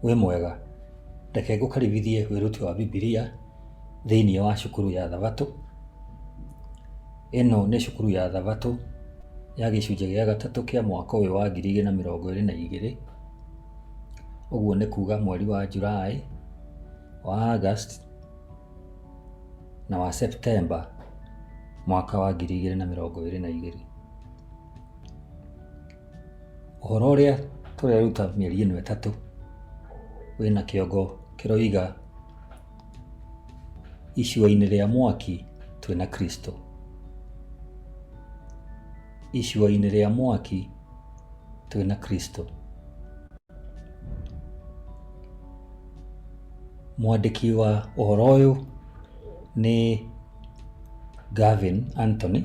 wĩ mwega reke ngũkaribithie wĩruti wa bibilia thĩinĩ wa cukuru ya thabatũ ĩno nĩ cukuru ya thabatũ ya gĩcunjĩ gĩa gatatũ kĩa mwaka ũyũ wa ngiri igĩrĩ na mĩrongo ĩrĩ na igĩrĩ ũguo nĩ kuga mweri wa July wa August na wa September mwaka wa ngiri igĩrĩ na mĩrongo ĩrĩ na igĩrĩ. Ũhoro ũrĩa tũreruta mĩeri ĩno ĩtatũ wĩna kĩongo kĩroiga icua-inĩ rĩa mwaki twĩna Kristo. Icua-inĩ rĩa mwaki twĩna Kristo. Mwandĩki wa ũhoro ũyũ nĩ Gavin Anthony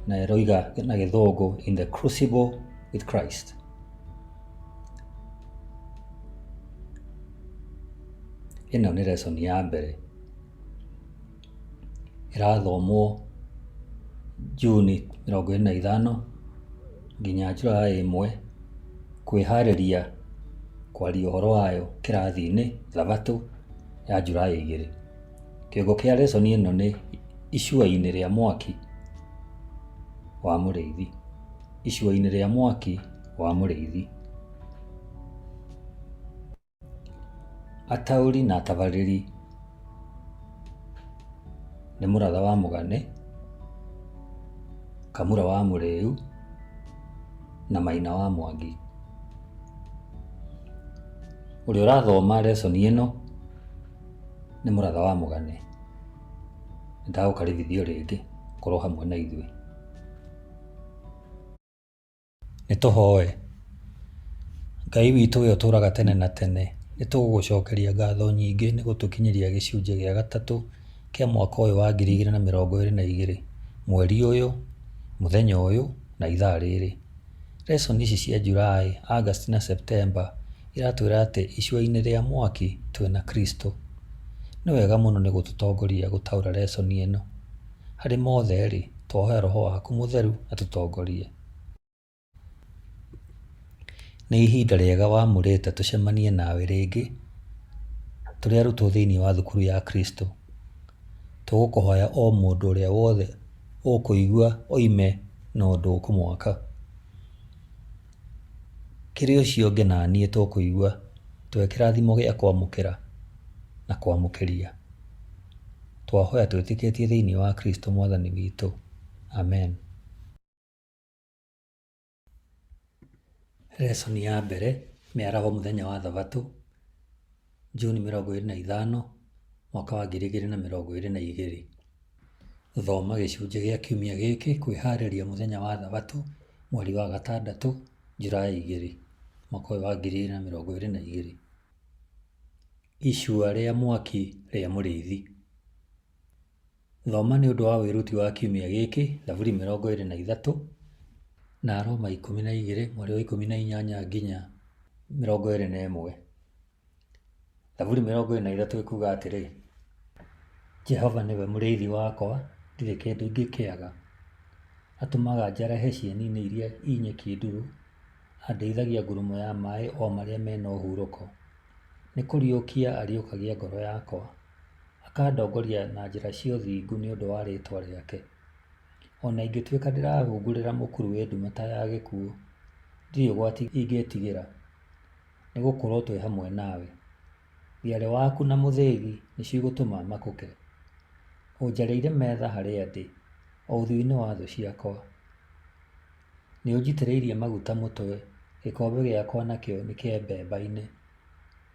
na eroiga na gĩthũngũ in the crucible with Christ. Ĩno nĩ lesson ya mbere. ĩrathomwo June mĩrongo ĩrĩ na ithano nginya July ĩmwe, kwĩharĩria kwaria ũhoro wayo kĩrathi-inĩ thabatũ ya July igĩrĩ. Kĩongo kĩa lesson ĩno nĩ icua-inĩ rĩa mwaki wa mũrĩithi, icua-inĩ rĩa mwaki wa mũrĩithi. Ataũri na atabarĩri nĩ mũratha wa mũgane, kamũra wa mũrĩu na maina wa mwangi. Ũrĩa ũrathoma reconi ĩno nĩ mũratha wa mũgane. Nĩ ndagũkaribithia o rĩngĩ ũkorwo hamwe na ithuĩ. Nĩ tũhoe. Ngai witũ ũrĩa ũtũũraga tene na tene, nĩ tũgũgũcokeria ngatho nyingĩ nĩ gũtũkinyĩria gĩcunjĩ gĩa gatatũ kĩa mwaka ũyũ wa ngiri igĩrĩ na mĩrongo ĩrĩ na igĩrĩ, mweri ũyũ, mũthenya ũyũ, na ithaa rĩrĩ. Lesson ici cia July, August na September iratwĩra atĩ icua-inĩ rĩa mwaki twĩna Kristo. Nĩ wega mũno nĩ gũtũtongoria gũtaũra lesson ĩno. Harĩ mothe rĩ, twahoya Roho waku mũtheru atũtongorie. Nĩ ihinda rĩega wamũrĩte tũcemanie nawe rĩngĩ tũrĩ arutwo thĩinĩ wa thukuru ya Kristo. Tũgũkũhoya o mũndũ ũrĩa wothe ũkũigua oime na ũndũ ũkũmwaka. Kĩrĩ ũcio ũngĩ na niĩ tũkũigua twĩ kĩrathimo gĩa kwamũkĩra na kwamũkĩria. Twahoya twĩtĩkĩtie thĩinĩ wa Kristo Mwathani witũ. Amen. Lesson ya mbere, mĩaraho mũthenya wa thabatũ, June mĩrongo ĩrĩ na ithano, mwaka wa ngiri igĩrĩ na mĩrongo ĩrĩ na igĩrĩ. Thoma gĩcunjĩ gĩa kiumia gĩkĩ kwĩharĩria mũthenya wa thabatũ, mweri wa gatandatũ, July igĩrĩ, mwaka ũyũ wa ngiri igĩrĩ na mĩrongo ĩrĩ na igĩrĩ. Icua rĩa mwaki rĩa mũrĩithi. Thoma nĩ ũndũ wa wĩruti wa kiumia gĩkĩ Thaburi mĩrongo ĩrĩ na ithatũ na Aroma ikũmi na igĩrĩ mweri wa ikũmi na inyanya nginya mĩrongo ĩrĩ na ĩmwe. Thaburi mĩrongo ĩrĩ na ithatũ ĩkuga atĩrĩ, Jehova nĩwe mũrĩithi wakwa, ndirĩ kĩndũ ingĩkĩaga. Atũmaga njarahe cieni-inĩ iria i nyeki nduru, andeithagia ngurumo ya maĩ o marĩa mena ũhurũko. Nĩ kũriũkia ariũkagia ngoro yakwa. akandongoria na njĩra cia ũthingu nĩ ũndũ wa rĩĩtwa rĩake. O na ingĩtuĩka ndĩrahungurĩra mũkuru wĩ ndumata ya gĩkuũ, ndirĩ ũgwati ingĩĩtigĩra, nĩ gũkorwo twĩ hamwe nawe. Thiarĩ waku na mũthĩgi nĩcio igũtũma makũke. Ũnjarĩire metha harĩa ndĩ, o ũthiũ-inĩ wa thũ ciakwa. Nĩ ũnjitĩrĩirie maguta mũtwe, gĩkombe gĩakwa nakĩo nĩ kĩembemba-inĩ.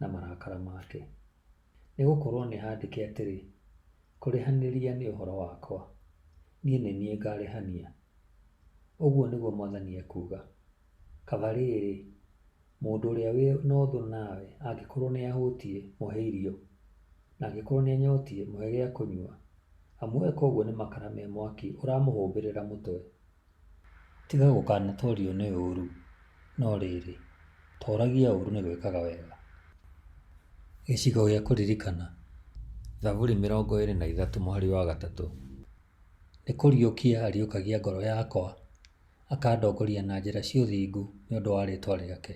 na marakara make. Nĩ gũkorũo nĩ handĩke atĩrĩ, Kũrĩhanĩria nĩ ũhoro wakwa, niĩ nĩ niĩ ngaarĩhania, ũguo nĩguo Mwathani ekuuga. Kaba rĩrĩ, mũndũ ũrĩa wĩ na ũthũ nawe angĩkorũo nĩ ahũtiĩ, mũhe irio, na angĩkorũo nĩ anyotiĩ, mũhe gĩa kũnyua, amu eka ũguo nĩ makara me mwaki ũramũhũmbĩrĩra mũtwe. Tiga gũkanatoorio nĩ ũũru, no rĩĩrĩ, tooragia ũũru nĩ gwĩkaga wega. Gĩcigo gĩa kũririkana, Thaburi mĩrongo ĩĩrĩ na ithatũ mũhari wa gatatũ, Nĩ kũriũkia ariũkagia ngoro yakwa, akandongoria na njĩra cia ũthingu nĩ ũndũ wa rĩĩtwa rĩake.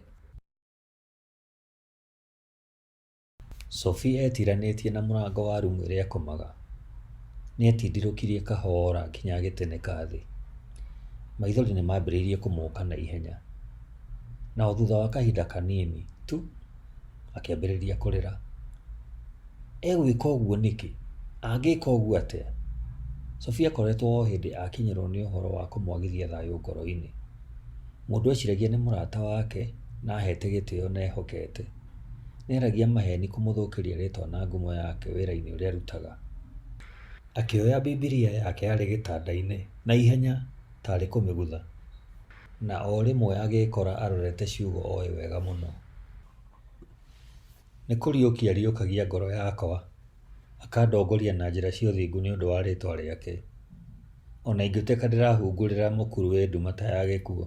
Sophie eetiranĩtie na mũrango wa rumu ĩrĩa ekomaga. Nĩetindirũkirie kahoora nginya agĩtĩnĩka thĩ. Maithori nĩmambĩrĩirie kũmũũka na ihenya. Na o thutha wa kahinda kaniini tu, akĩambĩrĩria kũrĩra. Egwĩka ũguo nĩkĩ? Angĩka ũguo atĩa? Sophie akoretwo o hĩndĩ akinyĩrwo nĩ ũhoro wa kũmwagithia thayũ ngoro-inĩ. Mũndũ eciragia nĩ mũrata wake na aheete gĩtĩo na ehokete. Nĩaragia maheni kũmũthũkĩria rĩtwa na ngumo yake wĩra-inĩ ũrĩa arutaga. Akĩoya Bibilia yake yarĩ gĩtanda-inĩ na ihenya ta arĩ kũmĩgutha, na o rĩmwe agĩĩkora arorete ciugo oĩ wega mũno. Nĩ kũriũkia ariũkagia ngoro yakwa, akandongoria na njĩra cia ũthingu nĩ ũndũ wa rĩtwa rĩake. O na ingĩtuĩka ndĩrahungurĩra mũkuru wĩ nduma ta ya gĩkuũ,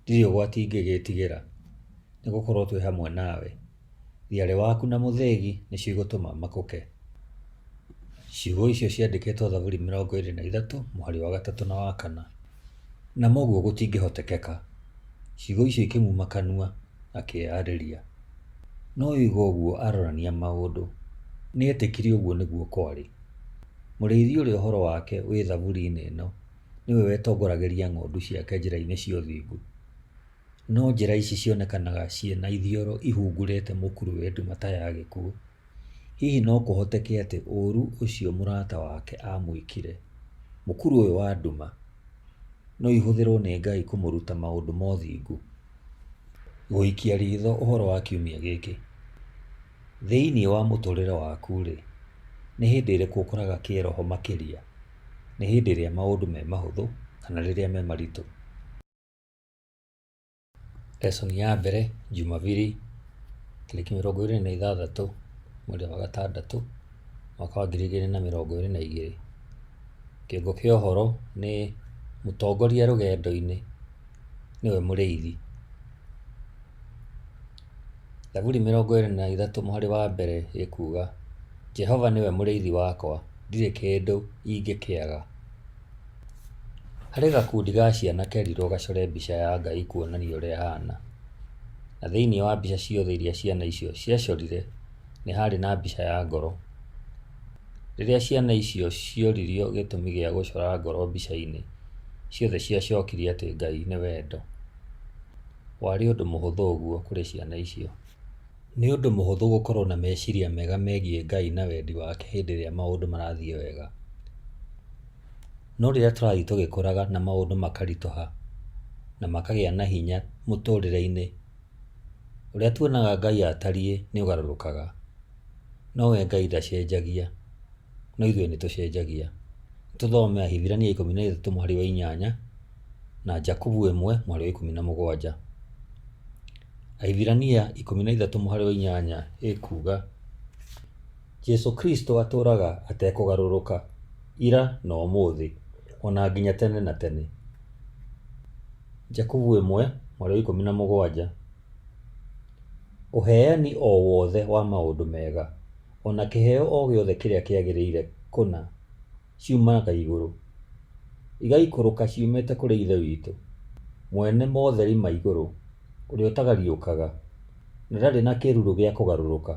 ndirĩ ũgwati ingĩgĩĩtigĩra, nĩ gũkorwo twĩ hamwe nawe. Thiarĩ waku na mũthĩgi nĩcio igũtũma makũke. Ciugo icio ciandĩkĩtwo Thaburi mĩrongo ĩrĩ na ithatũ mũhari wa gatatũ na wa kana. Na moguo gũtingĩhotekeka. Ciugo icio ikĩmuma kanua, akĩĩarĩria. No oiga ũguo arorania maũndũ. Nĩ etĩkiri ũguo nĩguo kwarĩ. Mũrĩithi ũrĩa ũhoro wake wĩ Thaburi-inĩ ĩno nĩwe wetongoragĩria ng'ondu ciake njĩra-inĩ cia ũthingu. No njĩra ici cionekanaga ciĩ na ithioro ihungurĩte mũkuru wendi mata ya gĩkuũ. Hihi no kũhoteke atĩ ũũru ũcio mũrata wake aamwĩkire, mũkuru ũyũ wa nduma, no ihũthĩrũo nĩ Ngai kũmũruta maũndũ ma ũthingu? Gũikia ritho ũhoro wa kiumia gĩkĩ, thĩinĩ wa mũtũũrĩre waku-rĩ, nĩ hĩndĩ ĩrĩkũ ũkoraga kĩĩroho makĩria, nĩ hĩndĩ ĩrĩa maũndũ me mahũthũ kana rĩrĩa me maritũ? Lesson ya mbere Jumabiri tarĩki mĩrongo ĩrĩ na ithathatũ mweri wa gatandatũ mwaka wa ngiri igĩrĩ na mĩrongo ĩrĩ na igĩrĩ. Kĩongo kĩa ũhoro nĩ mũtongoria rũgendo-inĩ nĩwe mũrĩithi. Thaburi mĩrongo ĩrĩ na ithatũ mũhari wa mbere ĩkuga, Jehova nĩwe mũrĩithi wakwa, ndirĩ kĩndũ ingĩkĩaga. Harĩ gakundi ga ciana kerirwo gacore mbica ya Ngai kuonania ũrĩa ahana. Na thĩinĩ wa mbica ciothe iria ciana icio ciacorire, nĩ harĩ na mbica ya ngoro. Rĩrĩa ciana icio cioririo gĩtũmi gĩa gũcora ngoro mbica-inĩ, ciothe ciacokirie atĩ Ngai nĩ wendo. Warĩ ũndũ mũhũthũ ũguo kũrĩ ciana icio. Nĩ ũndũ mũhũthũ gũkorũo na meciria mega megiĩ Ngai na wendi wake hĩndĩ ĩrĩa maũndũ marathiĩ wega. No rĩrĩa tũrathiĩ tũgĩkũraga na maũndũ makaritũha na makagĩa na hinya mũtũrĩre-inĩ, ũrĩa tuonaga Ngai atariĩ nĩ ũgarũrũkaga. No we Ngai ndacenjagia, no ithuĩ nĩ tũcenjagia. Nĩ tũthome Ahibirania ikũmi na ithatũ mũhari wa inyanya. na Jakubu ĩmwe mwarĩ wa ikũmi na mũgwanja. Ahibirania ikũmi na ithatũ mũharĩ wa inyanya ĩkuga Jesu Kristo atũraga atekũgarũrũka ira na ũmũthĩ ona nginya tene na tene. Jakubu ĩmwe mwarĩ wa ikũmi na mũgwanja. Ũheani o wothe wa maũndũ mega ona kĩheo o gĩothe kĩrĩa kĩagĩrĩire kũna ciumaga igũrũ, igaikũrũka ciumĩte kũrĩ Ithe witũ, mwene motheri ma igũrũ, ũrĩa ũtagariũkaga, na ndarĩ na kĩruru gĩa kũgarũrũka.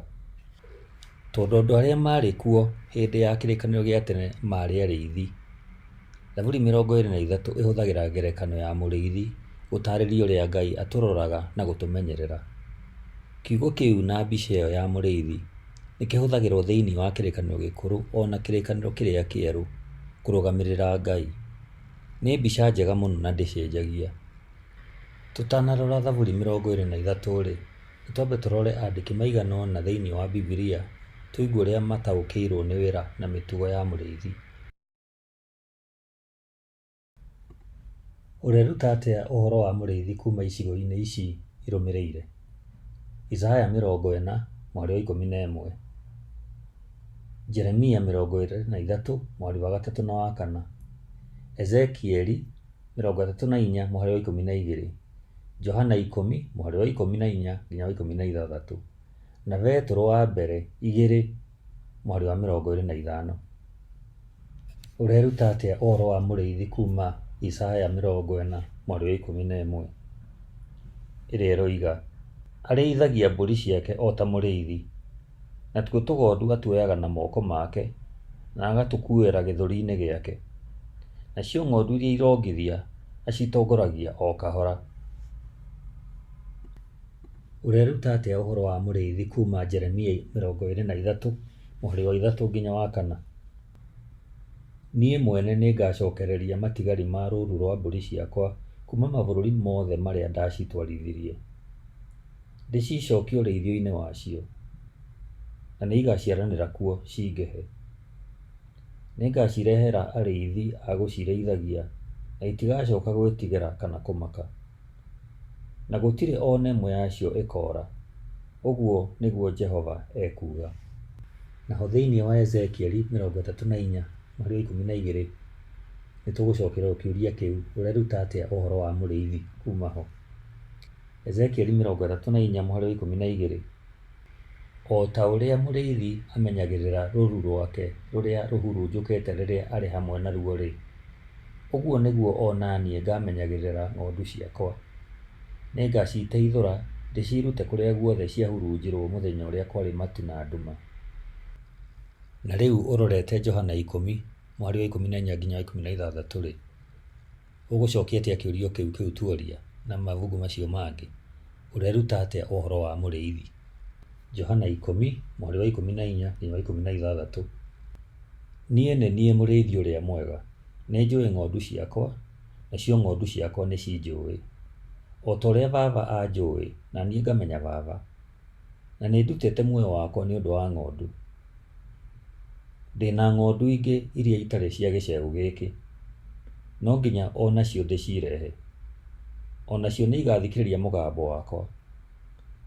Tondũ andũ arĩa maarĩ kuo hĩndĩ ya kĩrĩkanĩro gĩa tene maarĩ arĩithi. Thaburi mĩrongo ĩrĩ na ithatũ ĩhũthagĩra ngerekano ya mũrĩithi gũtarĩria ũrĩa Ngai atũroraga na gũtũmenyerera. Kiugo kĩu na mbica ĩyo ya mũrĩithi... Nĩ kĩhũthagĩrũo thĩinĩ wa Kĩrĩkanĩro Gĩkũrũ o na Kĩrĩkanĩro Kĩrĩa Kĩerũ kũrũgamĩrĩra Ngai. Nĩ mbica njega mũno na ndĩcenjagia. Tũtanarora Thaburi 23-rĩ, nĩ twambe tũrore andĩki maigana ũna thĩinĩ wa Bibilia tũigue ũrĩa mataũkĩirũo nĩ wĩra na mĩtugo ya mũrĩithi. Ũreruta atĩa ũhoro wa mũrĩithi kuuma icigo-inĩ ici irũmĩrĩire? Isaya mĩrongo ĩna mwarĩ wa ikũmi na ĩmwe, Jeremia mĩrongo ĩrĩ na ithatũ mwarĩ wa gatatũ na wa kana, Ezekieli mĩrongo ĩtatũ na inya mwarĩ wa ikũmi na igĩrĩ, Johana ikũmi mwarĩ wa ikũmi na inya nginya wa ikũmi na ithathatũ, na Petero wa mbere igĩrĩ mwarĩ wa mĩrongo ĩrĩ na ithano. Ũreruta atĩa ũhoro wa mũrĩithi kuuma Isaya mĩrongo ĩna mwarĩ wa ikũmi na ĩmwe ĩrĩa ĩroiga, Arĩithagia mbũri ciake o ta mũrĩithi, natuo tũgondu atuoyaga na moko make na agatũkuuĩra gĩthũri-inĩ gĩake, nacio ng'ondu iria irongithia acitongoragia o kahora. Ũreruta atĩa ũhoro wa mũrĩithi kuuma Jeremia mĩrongo ĩĩrĩ na ithatũ mũhari wa ithatũ nginya wa kana? Niĩ mwene nĩngacookereria matigari ma rũũru rwa mbũri ciakwa kuuma mabũrũri mothe marĩa ndaacitwarithirie, ndĩciicookie ũrĩithio-inĩ wacio, na nĩigaciaranĩra kuo ciingĩhe. Nĩngaacireheera arĩithi a gũcirĩithagia, na itigacooka gwĩtigĩra kana kũmaka. na gũtirĩ o na ĩmwe yacio ĩkoora, ũguo nĩguo Jehova ekuuga. Naho thĩinĩ wa Ezekieli mĩrongo ĩtatũ na inya mũhari wa ikũmi na igĩrĩ, nĩ tũgũcokererũo kĩũria kĩu, Ũreruta atĩa ũhoro wa mũrĩithi kuuma ho? Ezekieli mĩrongo ĩtatũ na inya mũhari wa ikũmi na igĩrĩ. O ta ũrĩa mũrĩithi amenyagĩrĩra rũũru rwake rũrĩa rũhurunjũkĩte rĩrĩa arĩ hamwe naruo-rĩ, ũguo nĩguo o na niĩ ngaamenyagĩrĩra ng'ondu ciakwa. Nĩngaciteithũra ndĩciirute kũrĩa guothe ciahurunjirũo mũthenya ũrĩa kwarĩ matu na nduma. Na rĩu ũrorete Johana ikũmi, mwarĩ wa ikũmi na inya nginya wa ikũmi na ithathatũ-rĩ. Ũgũcokia atĩa kĩũrio kĩu kĩu tuoria na mabuku macio mangĩ? Ũreruta atĩa ũhoro wa mũrĩithi? Johana ikũmi, mũhari wa ikũmi na inya nginya wa ikũmi na ithathatũ, Niĩ nĩ niĩ mũrĩithi ũrĩa mwega. Nĩ njũĩ ng'ondu ciakwa, nacio ng'ondu ciakwa nĩ cinjũĩ. O ta ũrĩa Baba anjũĩ, na niĩ ngamenya Baba, na nĩ ndutĩte muoyo wakwa nĩ ũndũ wa ng'ondu. Ndĩna ng'ondu ingĩ iria itarĩ cia gĩcegũ gĩkĩ, no nginya o nacio ndĩcirehe. O nacio nĩ igathikĩrĩria mũgambo wakwa,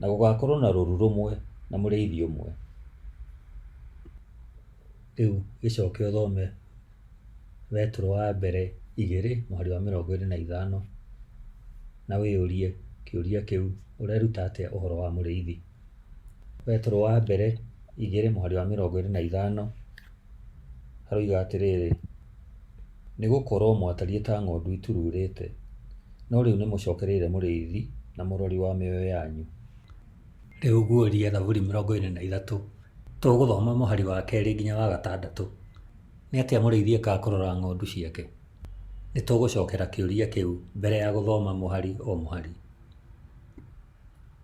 na gũgakorwo na rũru rũmwe na mũrĩithi ũmwe. Rĩu gĩcoke ũthome. wetũrũ wa mbere igĩrĩ mũhari wa mĩrongo ĩrĩ na ithano, na wĩyũrie kĩũria kĩu, ũreruta atĩa ũhoro wa mũrĩithi? Wetũrũ wa mbere igĩrĩ mũhari wa mĩrongo ĩrĩ na ithano haroiga atĩrĩrĩ, nĩ gũkorwo mwatariĩ ta ng'ondu itururĩte, no rĩu nĩ mũcokereire mũrĩithi na mũrori wa mĩoyo yanyu. Rĩu guũria Thaburi mĩrongo ĩrĩ na ithatũ, tũgũthoma mũhari wa kerĩ nginya wa gatandatũ. Nĩ atĩa mũrĩithi ekaga kũrora ng'ondu ciake? Nĩ tũgũcokera kĩũria kĩu mbere ya gũthoma mũhari o mũhari.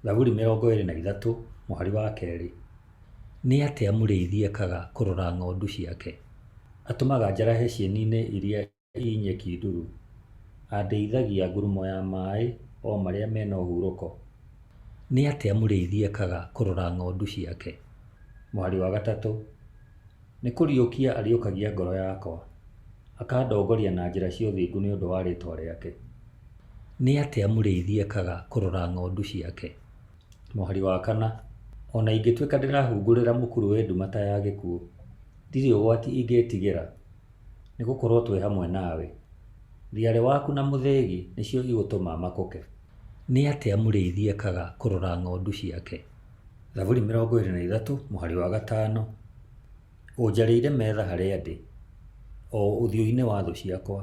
Thaburi mĩrongo ĩrĩ na ithatũ mũhari wa kerĩ. Nĩ atĩa mũrĩithi ekaga kũrora ng'ondu ciake? Atũmaga njarahe cieni-inĩ iria Ii nyeki nduru. Andeithagia ngurumo ya maaĩ o marĩa me na ũhurũko. Nĩ atĩa mũrĩithi ekaga kũrora ng'ondu ciake? Mwarĩ wa gatatũ. Nĩ kũriũkia ariũkagia ngoro yakwa. Akandongoria na njĩra cia ũthingu nĩ ũndũ wa rĩĩtwa rĩake. Nĩ atĩa mũrĩithi ekaga kũrora ng'ondu ciake? Mũhari wa kana. O na ingĩtuĩka ndĩrahungurĩra mũkuru wĩ nduma ta ya gĩkuũ, ndirĩ ũgwati ingĩĩtigĩra. nĩgũkorwo twĩ hamwe nawe. Thiarĩ waku na mũthĩgi nĩcio igũtũma makũke. Nĩ atĩa mũrĩithi ekaga kũrora ng'ondu ciake? Thaburi mĩrongo ĩrĩ na ithatũ mũhari wa gatano Ũnjarĩire metha harĩa ndĩ, o ũthiũ-inĩ wa thũ ciakwa,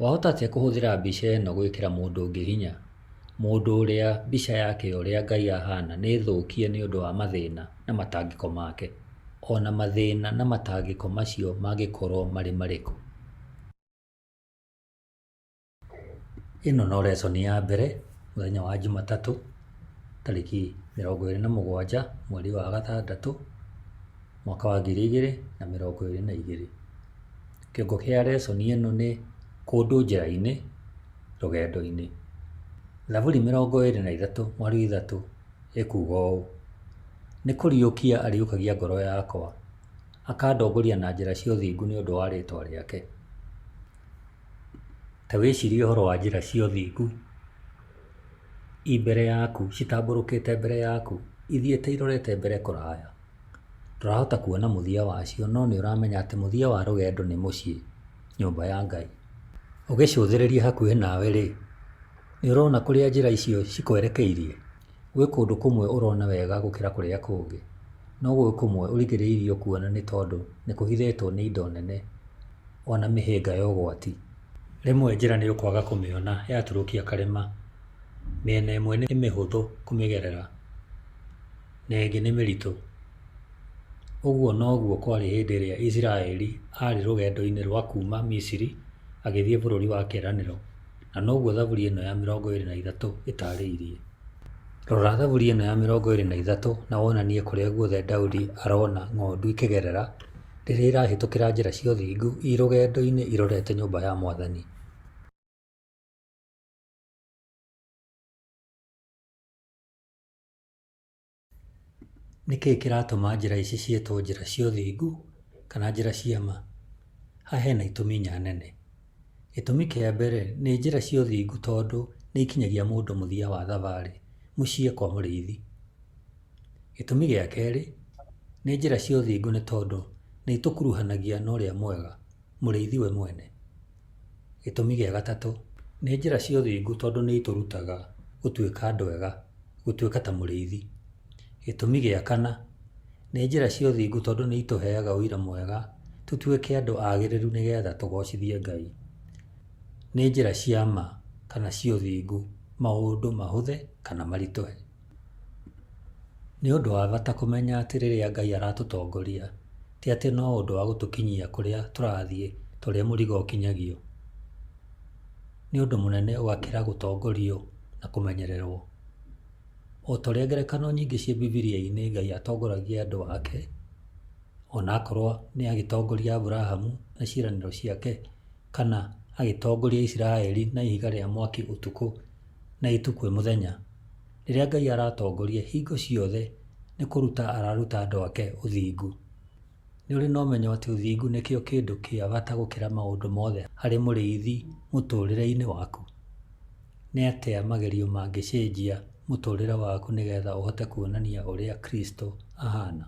Wahota atĩa kũhũthĩra mbica ĩno gwĩkĩra mũndũ ũngĩ hinya? Mũndũ ũrĩa mbica yake ya ũrĩa Ngai ahana nĩ thũkie nĩ ũndũ wa mathĩna na matangĩko make. O na mathĩna na matangĩko macio mangĩkorũo marĩ marĩkũ. Ĩno no lesson ya mbere mũthenya wa Jumatatũ, tarĩki mĩrongo ĩrĩ na mũgwanja mweri wa gatandatũ. mwaka wa ngiri igĩrĩ na mĩrongo ĩrĩ na igĩrĩ. Kĩongo kĩa reconi ĩno nĩ kũndũ njĩra-inĩ rũgendo-inĩ. Thaburi mĩrongo ĩrĩ na ithatũ mwario ithatũ ĩkuga ũũ, Nĩ kũriũkia ariũkagia ngoro yakwa, akandongoria na njĩra cia ũthingu nĩ ũndũ wa rĩtwa rĩake. Ta wĩcirie ũhoro wa njĩra cia ũthingu i mbere yaku, citambũrũkĩte mbere yaku, ithiĩte irorete mbere kũraya. Ndũrahota kuona mũthia wacio no nĩ ũramenya atĩ mũthia wa rũgendo nĩ mũciĩ, nyũmba ya Ngai. Ũgĩcũthĩrĩria hakuhĩ nawe rĩ, nĩ ũrona kũrĩa njĩra icio cikwerekeirie? Gwĩ kũndũ kũmwe ũrona wega gũkĩra kũrĩa kũngĩ, no gwĩ kũmwe ũrigĩrĩirio kuona nĩ tondũ nĩ kũhithĩtwo nĩ indo nene ona mĩhĩnga ya ũgwati. Rĩmwe njĩra nĩ ũkwaga kũmĩona yaturũkia karĩma, mĩena ĩmwe nĩ mĩhũthũ kũmĩgerera. na ĩngĩ nĩ mĩritũ. Ũguo noguo kwarĩ hĩndĩ ĩrĩa Isiraeli arĩ rũgendo-inĩ rwa kuuma Misiri agĩthiĩ bũrũri wa kĩĩranĩro, na noguo thaburi ĩno ya mĩrongo ĩrĩ na ithatũ ĩtaarĩirie. Rora thaburi ĩno ya mĩrongo ĩrĩ na ithatũ na wonanie kũrĩa guothe Daudi arona ng'ondu ikĩgerera rĩrĩa irahĩtũkĩra njĩra cia ũthingu irĩ rũgendo-inĩ irorete nyũmba ya Mwathani. Nĩ kĩĩ kĩratũma njĩra ici ciĩtwo njĩra cia ũthingu kana njĩra cia ma? Haha hena itũmi inya nene. Gĩtũmi kĩa mbere, nĩ njĩra cia ũthingu tondũ nĩ ikinyagia mũndũ mũthia wa thabarĩ, mũciĩ kwa mũrĩithi. Gĩtũmi gĩa kerĩ, nĩ njĩra cia ũthingu nĩ tondũ nĩ itũkuruhanagia na ũrĩa mwega. Mũrĩithi we mwene. Gĩtũmi gĩa gatatũ, nĩ njĩra cia ũthingu tondũ nĩ itũrutaga gũtuĩka andũ ega, gũtuĩka ta mũrĩithi. Gĩtũmi gĩa kana, nĩ njĩra cia ũthingu tondũ nĩ itũheaga ũira mwega tũtuĩke andũ agĩrĩru nĩ getha tũgocithie Ngai. Nĩ njĩra cia ma kana cia ũthingu maũndũ mahũthe kana maritũhe. Nĩ ũndũ wa bata kũmenya atĩ rĩrĩa Ngai aratũtongoria, ti atĩ no ũndũ wa gũtũkinyia kũrĩa tũrathiĩ ta ũrĩa mũrigo ũkinyagio. Nĩ ũndũ mũnene ũgakĩra gũtongorio na kũmenyererũo. O ta ũrĩa ngerekano nyingĩ ciĩ Bibilia-inĩ Ngai atongoragia andũ ake, o na akorũo nĩ agĩtongoria Abrahamu na ciĩranĩro ciake kana agĩtongoria Isiraeli na ihiga rĩa mwaki ũtukũ. na ĩtu kwĩ mũthenya. Rĩrĩa Ngai aratongoria hingo ciothe nĩ kũruta araruta andũ ake ũthingu. Nĩ ũrĩ na ũmenyo atĩ ũthingu nĩkĩo kĩndũ kĩa bata gũkĩra maũndũ mothe harĩ mũrĩithi mũtũrĩre-inĩ waku? Nĩ atĩa magerio mangĩcenjia mũtũrĩre waku nĩgetha ũhote kuonania ũrĩa Kristo ahana?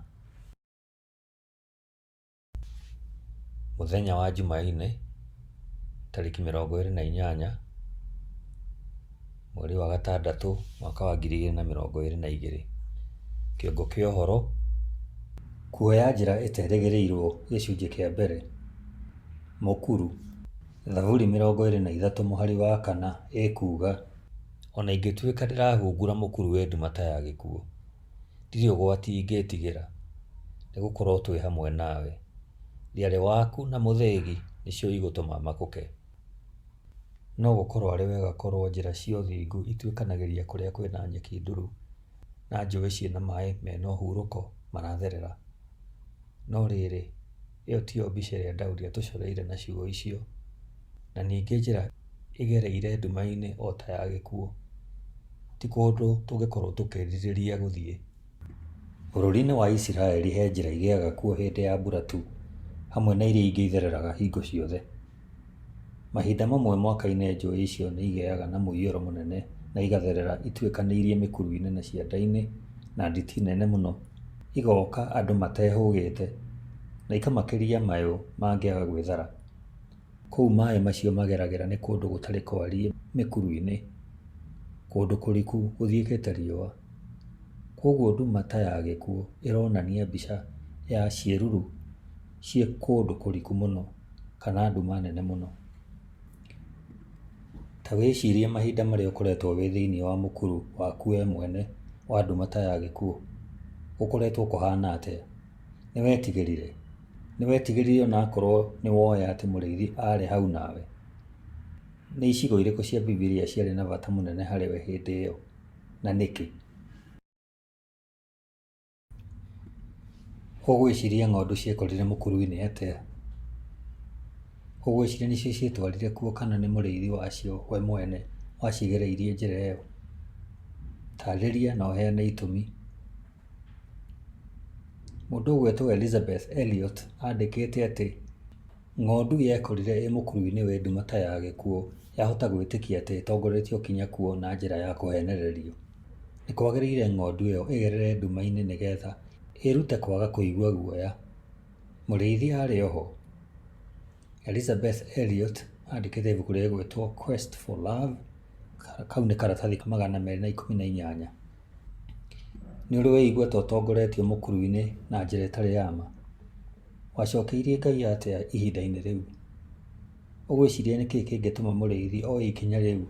Mũthenya wa Jumaine, tarĩki mĩrongo ĩrĩ na inyanya, mweri wa gatandatũ, mwaka wa ngiri igĩrĩ na mĩrongo ĩrĩ na igĩrĩ. Kĩongo kĩa ũhoro, Kuoya njĩra ĩterĩgĩrĩirwo gĩcunjĩ kĩa mbere, Mũkuru. Thaburi mĩrongo ĩrĩ na ithatũ mũhari wa kana ĩkuuga, O na ingĩtuĩka ndĩrahungura mũkuru we nduma ta ya gĩkuũ, ndirĩ ũgwati ingĩĩtigĩra, nĩ gũkorwo twĩ hamwe nawe. Thiarĩ waku na mũthĩgi nĩcio igũtũma makũke. No gũkorwo arĩ wega korwo njĩra cia ũthingu ituĩkanagĩria kũrĩa kũrĩ na nyeki nduru, na njũĩ ciĩ na maĩ mena ũhurũko maratherera. No rĩrĩ. ĩyo tiyo mbica ĩrĩa Daudi atũcoreire na ciugo icio, na ningĩ njĩra ĩgereire nduma-inĩ o ta ya gĩkuũ, ti kũndũ tũngĩkorũo tũkĩrirĩria gũthiĩ. Bũrũri-inĩ wa Isiraeli he njĩra igĩaga kuo hĩndĩ ya mbura tu, hamwe na iria ingĩ ithereraga hingo ciothe. Mahinda mamwe mwaka-inĩ njũũĩ icio nĩ igĩaga na mũiyũro mũnene na igatherera ituĩkanĩirie mĩkuru nene cianda-inĩ na nditi nene mũno, igooka andũ matehũgĩte, na ikamakĩria mayũ mangĩaga gwĩthara. Kũu maĩ macio mageragĩra nĩ kũndũ gũtarĩ kwariĩ mĩkuru-inĩ, kũndũ kũriku gũthiĩkĩte riũa. Kwoguo nduma ta ya gĩkuũ ĩronania mbica ya ciĩruru. ciĩ kũndũ kũriku mũno kana nduma nene mũno. Ta wĩcirie mahinda marĩa ũkoretwo wĩ thĩiniĩ wa mũkuru waku we mwene wa nduma ta ya gĩkuũ, gũkoretwo kũhana atĩa? Nĩ wetigĩrire? Nĩ wetigĩrire ona akorwo nĩ woĩ atĩ mũrĩithi arĩ hau nawe? Nĩ icigo irĩkũ cia Bibilia ciarĩ na bata mũnene harĩ we hĩndĩ ĩyo, na nĩkĩ? Ũgwĩciria ng'ondu ciekorire mũkuru-inĩ atĩa? Ũgwĩciria nĩcio cietwarire kuo kana nĩ mũrĩithi wacio we mwene wacigereirie njĩra ĩyo? Taarĩria na ũheane itũmi. Mũndũ ũgwĩtwo Elizabeth Elliot andĩkĩte atĩ, Ng'ondu yekorire ĩ mũkuru-inĩ wĩ nduma ta ya gĩkuũ yahota gwĩtĩkia atĩ ĩtongoretio kinya kuo na njĩra ya kũheenererio. Nĩ kwagĩrĩire ng'ondu ĩyo ĩgerere nduma-inĩ nĩ getha ĩĩrute kwaga kũigua guoya. Mũrĩithi arĩ o ho? Elizabeth Elliot aandĩkĩte ibuku rĩgwĩtwo Quest for Love, kau nĩ karatathi ka magana merĩ na ikũmi na inyanya. Nĩ ũrĩ weigua ta ũtongoretio mũkuru-inĩ na njĩra ĩtarĩ ya ma? Wacokeirie Ngai atĩa ihinda-inĩ rĩu? Ũgwĩciria nĩ kĩĩ kĩngĩtũma mũrĩithi oe ikinya rĩu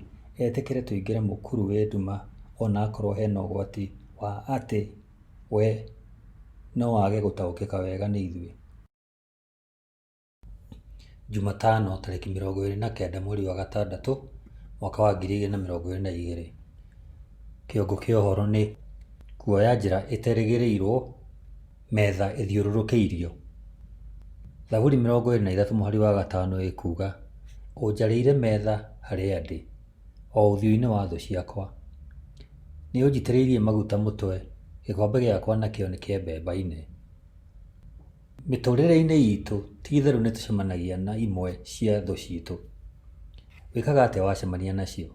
etĩkĩre tũingĩre mũkuru wĩ nduma o na akorwo he na ũgwati wa atĩ we no age gũtaũkĩka wega nĩ ithuĩ? Jumatano tarĩki mĩrongo ĩrĩ na kenda mweri wa gatandatũ mwaka wa ngiri igĩrĩ na mĩrongo ĩrĩ na igĩrĩ. Kĩongo kĩa ũhoro nĩ kuoya njĩra ĩterĩgĩrĩirwo metha ĩthiũrũrũkĩirio. Thaburi mĩrongo ĩrĩ na ithatũ mũhari wa gatano ĩkuga ũnjarĩire metha harĩa ndĩ o ũthiũ-inĩ wa thũ ciakwa. Nĩ ũnjitĩrĩirie maguta mũtwe, gĩkombe gĩakwa nakĩo nĩ kĩambembaine. Mĩtũrĩre-inĩ itũ ti itherũ nĩ tũcemanagia na imwe cia thũ citũ, wĩkaga atĩa wacemania nacio?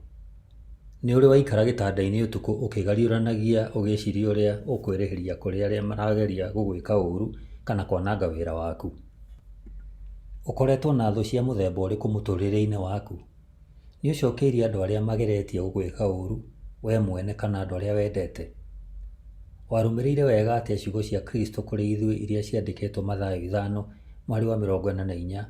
Nĩ ũrĩ waikara gĩtanda-inĩ ũtukũ ũkĩgariũranagia ũgĩciria ũrĩa ũkwĩrĩhĩria kũrĩ arĩa marageria gũgwĩka ũru kana kwananga wĩra waku? Ũkoretwo na thũ cia mũthemba ũrĩkũ mũtũrĩre-inĩ waku? Nĩ ũcokeirie andũ arĩa mageretie gũgwĩka ũũru wee mwene kana andũ arĩa wendete? Warũmĩrĩire wega atĩa ciugo cia Kristo kũrĩ ithuĩ iria ciandĩkĩtwo Mathayo ithano mũhari wa mĩrongo ĩna na inya,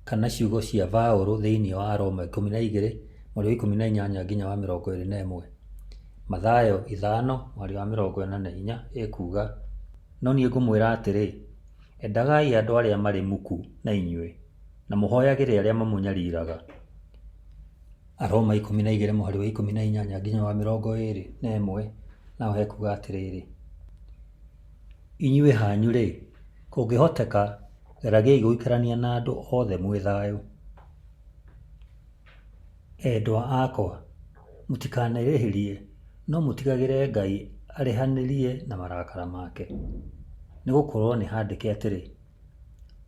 kana ciugo cia Baũrũ thĩinĩ wa Aroma ikũmi na igĩrĩ mũhari wa ikũmi na inyanya nginya wa mĩrongo ĩrĩ na ĩmwe? Mathayo ithano mũhari wa mĩrongo ĩna na inya ĩkuuga, No niĩ ngũmwĩra atĩrĩ, endagai andũ arĩa marĩ muku na inyuĩ, na mũhoyagĩre arĩa mamũnyariraga. Aroma ikũmi na igĩrĩ mũhari wa ikũmi na inyanya nginya wa mĩrongo ĩrĩ na ĩmwe naho hekuga atĩrĩrĩ, inyuĩ hanyu-rĩ, kũngĩhoteka geragiai gũikarania na andũ othe mwĩ thayũ. Endwa akwa, mũtikanerĩhĩrie, no mũtigagĩre Ngai arĩhanĩrie na marakara make, nĩ gũkorwo nĩhandĩke atĩrĩ...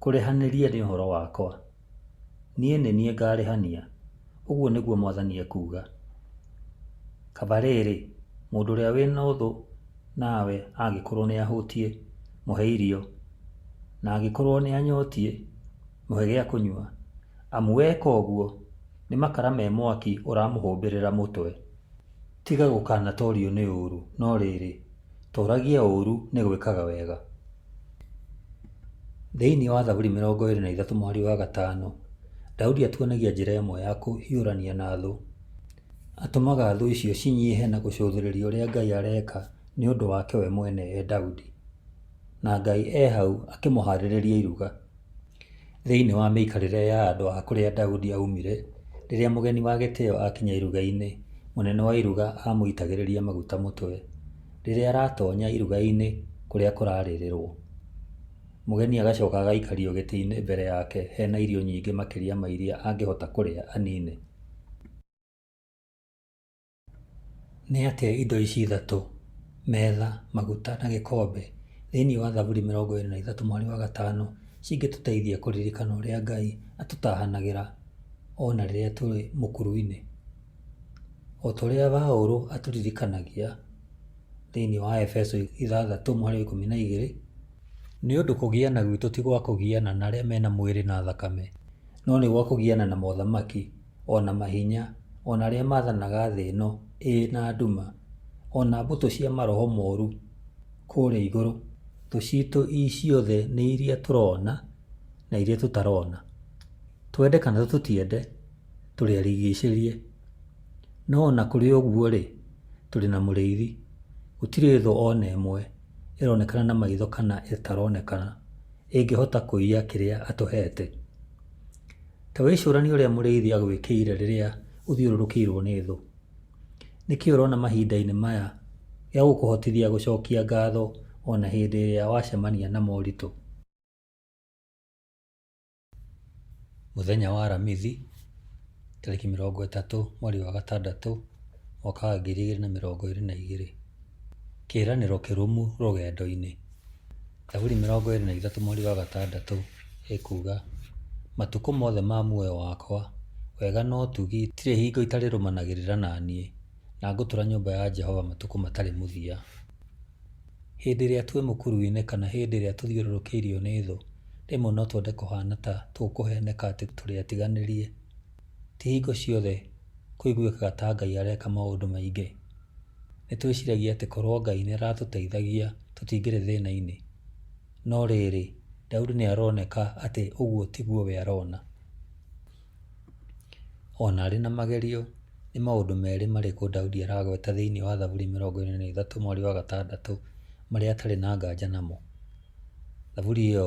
Kũrĩhanĩria nĩ ũhoro wakwa. Niĩ nĩ niĩ ngarĩhania, ũguo nĩguo mwathani ekuuga. Kaba rĩrĩ, mũndũ ũrĩa wĩ na ũthũ nawe angĩkorwo nĩ ahũtiĩ, mũhe irio, na angĩkorwo nĩ anyotiĩ, mũhe gĩa kũnyua, amu weka ũguo, nĩ makara me mwaki ũramũhũmbĩrĩra mũtwe. Tiga gũkanatoorio nĩ ũũru, no rĩĩrĩ, tooragia ũũru nĩ gwĩkaga wega. Thĩinĩ wa Thaburi mĩrongo ĩĩrĩ na ithatũ mũhari wa gatano, Daudi atuonagia njĩra ĩmwe ya kũhiũrania na thũ. Atũmaga thũ icio cinyiihe na gũcũthĩrĩria ũrĩa Ngai areeka nĩ ũndũ wake we mwene e Daudi. Na Ngai e hau akĩmũhaarĩrĩria iruga. Thĩinĩ wa mĩikarĩre ya andũ a kũrĩa Daudi aaumire, rĩrĩa mũgeni wa gĩtĩo aakinya iruga-inĩ, mũnene wa iruga aamũitagĩrĩria maguta mũtwe. Rĩrĩa aratoonya iruga-inĩ kũrĩa kũrarĩrĩrũo, mũgeni agacoka agaikario gĩtĩ-inĩ mbere yake he na irio nyingĩ makĩria ma iria angĩhota kũrĩa anine. Nĩ atĩa indo ici ithatũ, metha, maguta na gĩkombe, thĩinĩ wa Thaburi mĩrongo ĩĩrĩ na ithatũ mweri wa gatano cingĩtũteithia kũririkana ũrĩa Ngai atũtahanagĩra o na rĩrĩa tũrĩ mũkuru-inĩ? O ta ũrĩa Paulo atũririkanagia thĩinĩ wa Efeso ithathatũ mweri wa ikũmi na igĩrĩ, Nĩ ũndũ kũgiana gwitũ ti gwa kũgiana na arĩa me na mwĩrĩ na thakame, no nĩ gwa kũgiana na mothamaki, o na mahinya, o na arĩa maathanaga thĩ ĩno ĩĩ na nduma, o na mbũtũ cia maroho moru kũrĩa igũrũ. Thũ citũ ciothe nĩ iria tũrona na iria tũtarona. Twende kana tũtiende, tũrĩ arigiicĩrie. No o na kũrĩ ũguo-rĩ, tũrĩ na Mũrĩithi. Gũtirĩ thũ o na ĩmwe ĩronekana na maitho kana ĩtaronekana ĩngĩhota kũiya kĩrĩa atũhete. Ta wĩcũranie ũrĩa mũrĩithi agwĩkĩire rĩrĩa ũthiũrũrũkĩirũo nĩ thũ. Nĩ kĩĩ ũrona mahinda-inĩ maya gĩa gũkũhotithia gũcokia ngatho o na hĩndĩ ĩrĩa wacemania na moritũ? Mũthenya wa aramithi, tarĩki mĩrongo ĩtatũ mweri wa gatandatũ mwaka wa ngiri igĩrĩ na mĩrongo ĩrĩ na igĩrĩ. Kĩĩranĩro kĩrũmu rũgendo-inĩ. Zaburi mĩrongo ĩrĩ na ithatũ mweri wa gatandatũ ĩkuga, Matukũ mothe ma muoyo wakwa, wega na ũtugi itirĩ hingo itarĩrũmanagĩrĩra na niĩ, na ngũtũũra nyũmba ya Jehova matukũ matarĩ mũthia. Hĩndĩ ĩrĩa twĩ mũkuru-inĩ kana hĩndĩ ĩrĩa tũthiũrũrũkĩirio nĩ thũ, rĩmwe no twende kũhana ta tũkũheneka atĩ tũrĩ atiganĩrie. Ti hingo ciothe kũiguĩkaga ta Ngai areka maũndũ maingĩ. nĩ twĩciragia atĩ korũo Ngai nĩ aratũteithagia tũtingĩrĩ thĩna-inĩ. No rĩrĩ, Daudi nĩ aroneka atĩ ũguo tiguo we arona. O na arĩ na magerio, nĩ maũndũ merĩ marĩkũ Daudi aragweta thĩinĩ wa Thaburi 23:6 marĩa atarĩ na nganja namo? Thaburi ĩyo.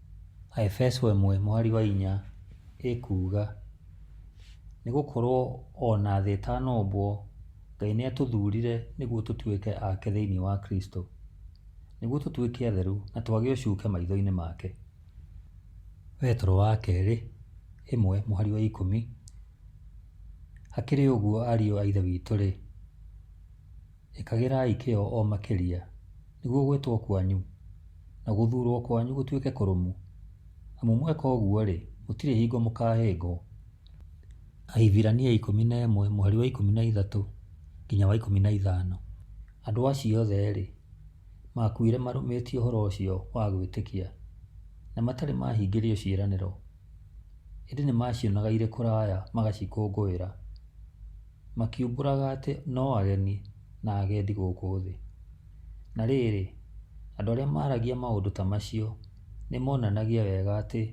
Aefeso ĩmwe mũhari wa inya ĩkuuga, Nĩ gũkorũo o na thĩ ĩtanombwo, Ngai nĩ aatũthurire nĩguo tũtuĩke ake thĩinĩ wa Kristo, nĩguo tũtuĩke atheru na twage ũcuke maitho-inĩ make. Petero wa Kerĩ ĩmwe mũhari wa ikũmi, Hakĩrĩ ũguo, ariũ a Ithe witũ-rĩ, Ĩkagĩrai kĩyo o makĩria, nĩguo gwĩtwo kwanyu na gũthuurwo kwanyu gũtuĩke kũrũmu, amu mweka ũguo-rĩ, gũtirĩ hingo mũkaahĩngwo. Ahibirania ikũmi na ĩmwe, mũhari wa ikũmi na ithatũ nginya wa ikũmi na ithano. Andũ acio othe-rĩ, maakuire marũmĩtie ũhoro ũcio wa gwĩtĩkia, na matarĩ maahingĩrio ciĩranĩro, ĩndĩ nĩmaacionaga irĩ kũraya magacikũngũĩra. makiumbũraga atĩ no ageni na agendi gũkũ thĩ. Na rĩrĩ, andũ arĩa maragia maũndũ ta macio nĩ monanagia wega atĩ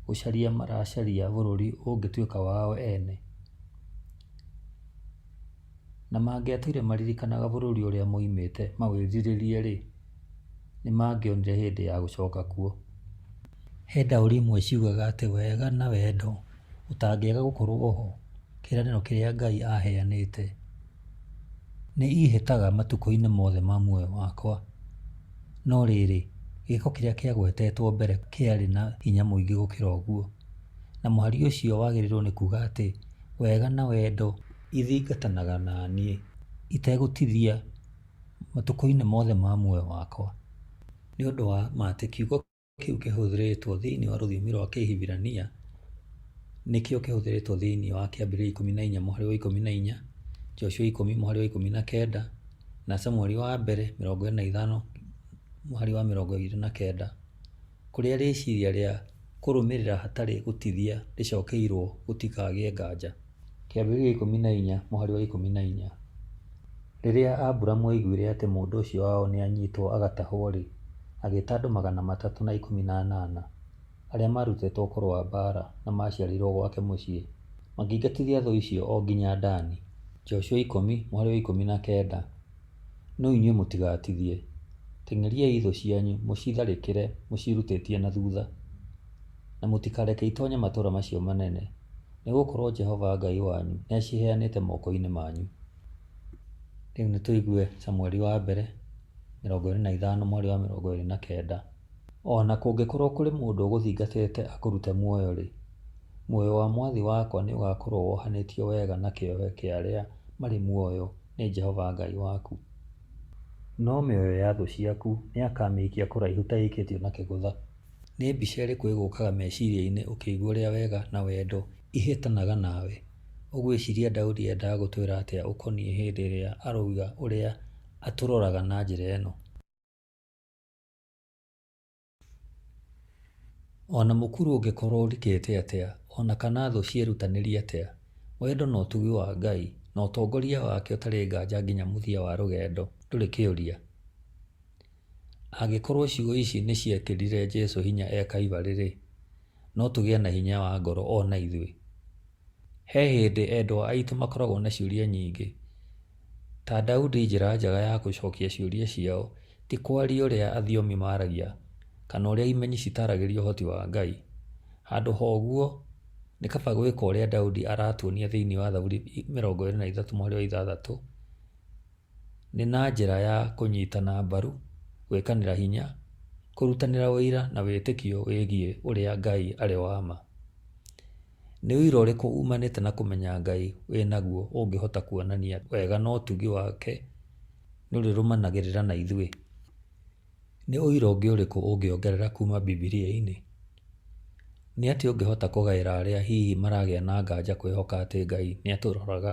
gũcaria maracaria bũrũri ũngĩtuĩka wao ene. Na mangĩatũire maririkanaga bũrũri ũrĩa maumĩte maũĩrirĩrie rĩ, nĩ mangĩonire hĩndĩ ya gũcoka kuo. He ndaũri imwe ciugaga atĩ wega na wendo... ũtangĩaga gũkorwo oho kĩĩranĩro kĩrĩa Ngai aaheanĩte. Nĩ iihĩtaga matukũ-inĩ mothe ma muoyo wakwa. No rĩrĩ, gĩĩko kĩrĩa kĩagwetetwo mbere kĩarĩ na hinya mũingĩ gũkĩra ũguo. Na mũhari ũcio wagĩrĩirũo nĩ kuuga atĩ wega na wendo ithingatanaga na niĩ itegũtithia matukũ-inĩ mothe ma muoyo wakwa. Nĩ ũndũ wa ma atĩ kiugo. kĩu kĩhũthĩrĩtwo thĩinĩ wa rũthiomi rwa Kĩhibirania nĩkĩo kĩhũthĩrĩtwo thĩinĩ wa Kĩambĩrĩria ikũmi na inya mũhari wa ikũmi na inya, Joshua ikũmi mũhari wa ikũmi na kenda, na Samueli wa mbere mĩrongo ĩrĩ na ithano mũhari wa mĩrongo ĩrĩ na kenda, kũrĩa rĩciria rĩa kũrũmĩrĩra hatarĩ gũtithia rĩcokeirũo gũtikagĩe nganja. kĩambĩrĩria ikũmi na inya mũhari wa ikũmi na inya. Rĩrĩa Aburamu aiguire atĩ mũndũ ũcio wao nĩ anyitwo agatahwo-rĩ, agĩta andũ magana matatũ na ikũmi na anana, arĩa maarutĩtwo ũkũrũ wa mbaara na maaciarĩirwo gwake mũciĩ, makĩingatithia thũ icio o nginya Dani. Joshua ikũmi mũhari wa ikũmi na kenda. No inyuĩ mũtigatithie. Teng'eriai thũ cianyu mũcitharĩkĩre mũciĩrutĩtie na thutha, na mũtikareke itonye matũũra macio manene. nĩ gũkorũo Jehova Ngai wanyu nĩ aciheanĩte moko-inĩ manyu. Rĩu nĩ tũigue Samueli wa mbere, mĩrongo ĩĩrĩ na ithano mwarĩ wa mĩrongo ĩĩrĩ na kenda. O na kũngĩkorũo kũrĩ mũndũ ũgũthingatĩte akũrute muoyo-rĩ, muoyo wa mwathi wakwa nĩ ũgaakorũo wohanĩtio wega na kĩohe kĩa arĩa marĩ muoyo nĩ Jehova Ngai waku. No mĩoyo ya thũ ciaku nĩ akaamĩikia kũraihu ta ĩikĩtio na kĩgũtha. Nĩ mbica ĩrĩkũ ĩgũkaga meciria-inĩ ũkĩigua ũrĩa wega na wendo ihetanaga nawe? Ũgwĩciria Daudi eendaga gũtwĩra atĩa ũkoniĩ hĩndĩ ĩrĩa aroiga ũrĩa atũroraga na njĩra ĩno? O na mũkuru ũngĩkorũo ũrikĩte atĩa, o na kana thũ cierutanĩrie atĩa, wendo na ũtugi wa Ngai na ũtongoria wake ũtarĩ nganja nginya mũthia wa rũgendo ndũrĩ kĩũria. Angĩkorũo ciugo ici nĩ ciekĩrire Jesu hinya e Kalvarĩ-rĩ, no tũgĩe na hinya wa ngoro o na ithuĩ. He hĩndĩ endwa aitũ makoragwo na ciũria nyingĩ. Ta Daudi njĩra njega ya gũcokia ciũria ciao ti kwaria ũrĩa athiomi maragia kana ũrĩa imenyi citaragĩria ũhoti wa Ngai. Handũ ha ũguo, nĩ kaba gwĩka ũrĩa Daudi aratuonia thĩinĩ wa Thaburi mĩrongo ĩrĩ na ithatũ mũhari wa ithathatũ. nĩ na njĩra ya kũnyitana mbaru, gwĩkanĩra hinya, kũrutanĩra ũira na wĩtĩkio wĩgiĩ ũrĩa Ngai arĩ wa ma. Nĩ ũira ũrĩkũ uumanĩte na kũmenya Ngai wĩ naguo ũngĩhota kuonania wega na ũtugi wake nĩ ũrĩrũmanagĩrĩra na ithuĩ? Nĩ ũira ũngĩ ũrĩkũ ũngĩongerera kuuma Bibilia-inĩ? Nĩ atĩa ũngĩhota kũgaĩra arĩa hihi maragĩa na nganja kwĩhoka atĩ Ngai nĩ atũroraga?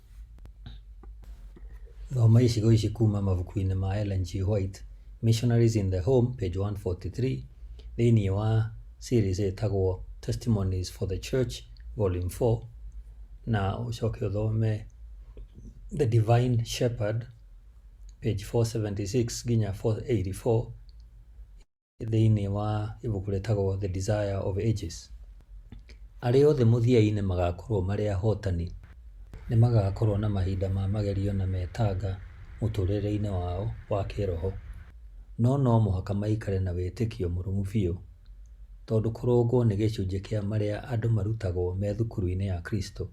Thoma icigo ici kuma mabuku-inĩ ma Ellen G. White, Missionaries in the Home, page 143, thĩinĩ wa series ĩtagwo Testimonies for the Church, volume 4, na ũcoke ũthome The Divine Shepherd, page 476 nginya 484, thĩinĩ wa ibuku rĩtagwo The Desire of Ages, arĩa othe mũthia-inĩ magakorũo marĩ ahotani, nĩ magakorũo na mahinda ma magerio na metanga mũtũũrĩre-inĩ wao wa kĩĩroho. No no mũhaka maikare na wĩtĩkio mũrũmu biũ, tondũ kũrũngwo nĩ gĩcunjĩ kĩa marĩa andũ marutagwo me thukuru-inĩ ya Kristo,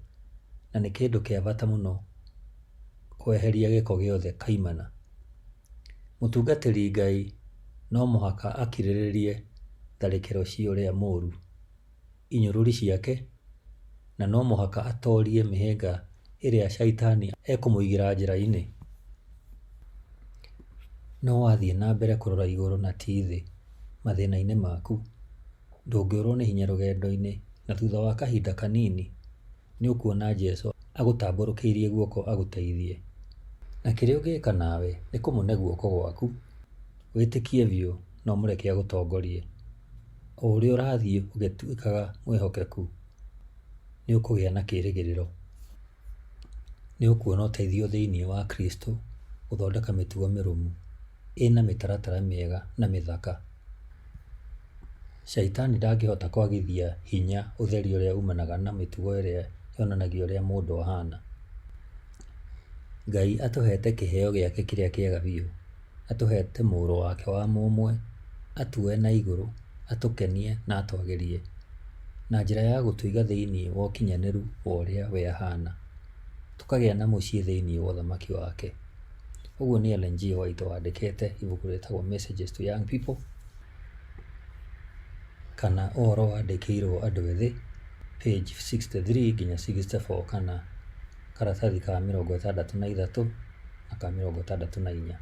na nĩ kĩndũ kĩa bata mũno kweheria gĩko gĩothe kaimana. Mũtungatĩri Ngai no mũhaka akirĩrĩrie tharĩkĩro cia ũrĩa mũũru, inyũrũri ciake, na no mũhaka atoorie mĩhĩnga ĩrĩa Shaitani ekũmũigĩra njĩra-inĩ. No wathiĩ na mbere kũrora igũrũ na ti thĩ mathĩna-inĩ maku, ndũngĩũrwo nĩ hinya rũgendo-inĩ na thutha wa kahinda kanini, nĩ ũkuona Jesu agũtambũrũkĩirie guoko agũteithie. Na kĩrĩa ũngĩka nawe nĩ kũmũne guoko gwaku, wĩtĩkie biũ na ũmũreke agũtongorie. O ũrĩa ũrathiĩ ũgĩtuĩkaga mwĩhokeku, nĩ ũkũgĩa na kĩrĩgĩrĩro. Nĩ ũkuona ũteithio thĩinĩ wa Kristo gũthondeka mĩtugo mĩrũmu. ĩna mĩtaratara mĩega na mĩthaka. Caitani ndangĩhota kwagithia hinya ũtheri ũrĩa umanaga na mĩtugo ĩrĩa yonanagia ũrĩa mũndũ ahana. Ngai atũhete kĩheo gĩake kĩrĩa kĩega biũ. Atũhete mũrũ wake wa mũmwe, atue na igũrũ, atũkenie na atwagĩrie, na njĩra ya gũtũiga thĩinĩ wa ũkinyanĩru wa ũrĩa we ahana, tũkagĩa na mũciĩ thĩinĩ wa ũthamaki wake. Ũguo nĩ Ellen G. White wandĩkĩte ibuku rĩtagwo Messages to Young People kana ũhoro wandĩkĩirwo andũ ethĩ page 63 nginya 64 kana karatathi ka mĩrongo ĩtandatũ na ithatũ na ka mĩrongo ĩtandatũ na inya.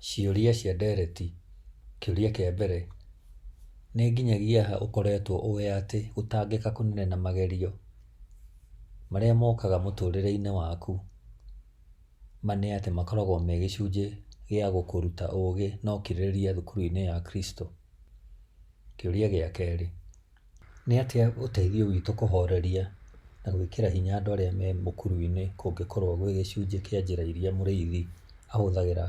Ciũria cia ndereti, kĩũria kĩa mbere, nĩ nginyagia ha ũkoretwo ũĩ atĩ gũtangĩka kũnene na magerio marĩa mokaga mũtũrĩre-inĩ waku, ma nĩ atĩ makoragwo me gĩcunjĩ gĩa gũkũruta ũgĩ na ũkirĩrĩria thukuru-inĩ ya Kristo? Kĩũria gĩa kerĩ, Nĩ atĩa ũteithio witũ kũhoreria na gwĩkĩra hinya andũ arĩa me mũkuru-inĩ kũngĩkorũo gwĩ gĩcunjĩ kĩa njĩra iria Mũrĩithi ahũthagĩra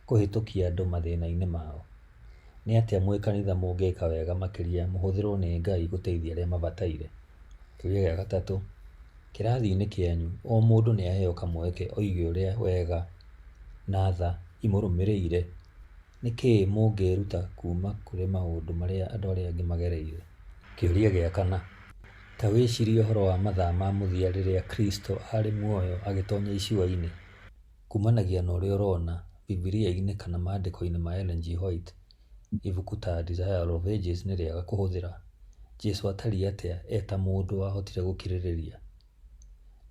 kũhĩtũkia andũ mathĩna-inĩ mao? Nĩ atĩa mwĩ kanitha mũngĩka wega makĩria mũhũthĩrũo nĩ Ngai gũteithia arĩa mabataire? Kĩũria gĩa gatatũ, Kĩrathi-inĩ kĩanyu, o mũndũ nĩ aheo kamweke oige ũrĩa wega na tha imũrũmĩrĩire. Nĩ kĩĩ mũngĩĩruta kuuma kũrĩ maũndũ marĩa andũ arĩa angĩ magereire? Kĩũria gĩa kana, Ta wĩcirie ũhoro wa mathaa ma mũthia rĩrĩa Kristo aarĩ muoyo agĩtonya icua-inĩ. Kumanagia na ũrĩa ũrona Bibilia-inĩ kana maandĩko-inĩ ma Ellen G. White, ibuku ta Desire of Ages nĩ rĩega kũhũthĩra. Jesu aatariĩ atĩa e ta mũndũ wahotire gũkirĩrĩria?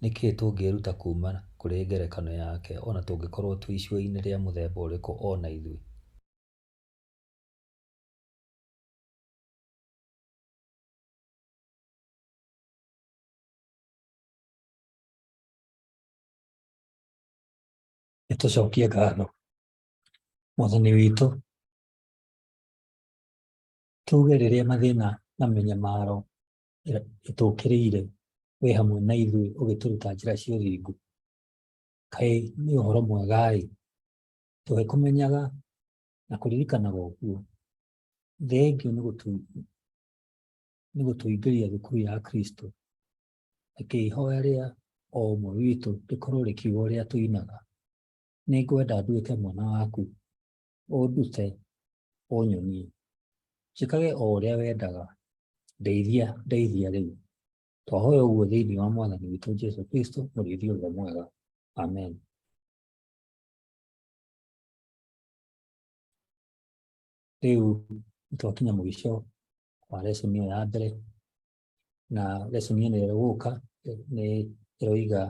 Nĩ kĩĩ tũngĩĩruta kuuma kũrĩ ngerekano yake o na tũngĩkorũo twĩ icua-inĩ rĩa mũthemba ũrĩkũ o na ithuĩ? Nĩ tũcokie ngatho Mwathani witũ, tuuge rĩrĩa mathĩna na mĩnyamaro ĩtũkĩrĩire wĩ hamwe na ithuĩ ũgĩtũruta njĩra cia ũthingu kaĩ nĩ ũhoro mwega-ĩ tũgĩkũmenyaga na kũririkanaga ũguo thengiũ nĩ gũtũingĩria thukuru ya kristo reke ihoya rĩa o ũmwe witũ rĩkorwo rĩkiuga ũrĩa tũinaga nĩ ngwenda nduĩke mwana waku ũndute ũnyonie njĩkage o ũrĩa wendaga ndeithia ndeithia rĩu twahoya ũguo thĩinĩ wa mwathani witũ jesu kristo mũrĩithi ũrĩa mwega amen rĩu twakinya mũico wa lesson ĩyo ya mbere na lesson ĩno ĩgũka nĩ ĩroiga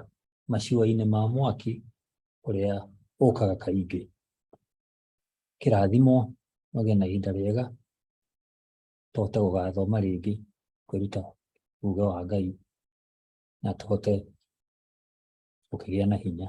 maciwa-inĩ ma mwaki ũrĩa ũkaga kaingĩ. Kĩrathimo magĩe na ihinda rĩega tũhote gũgathoma rĩngĩ kwĩruta uge wa Ngai na tũhote gũkĩgĩa na hinya.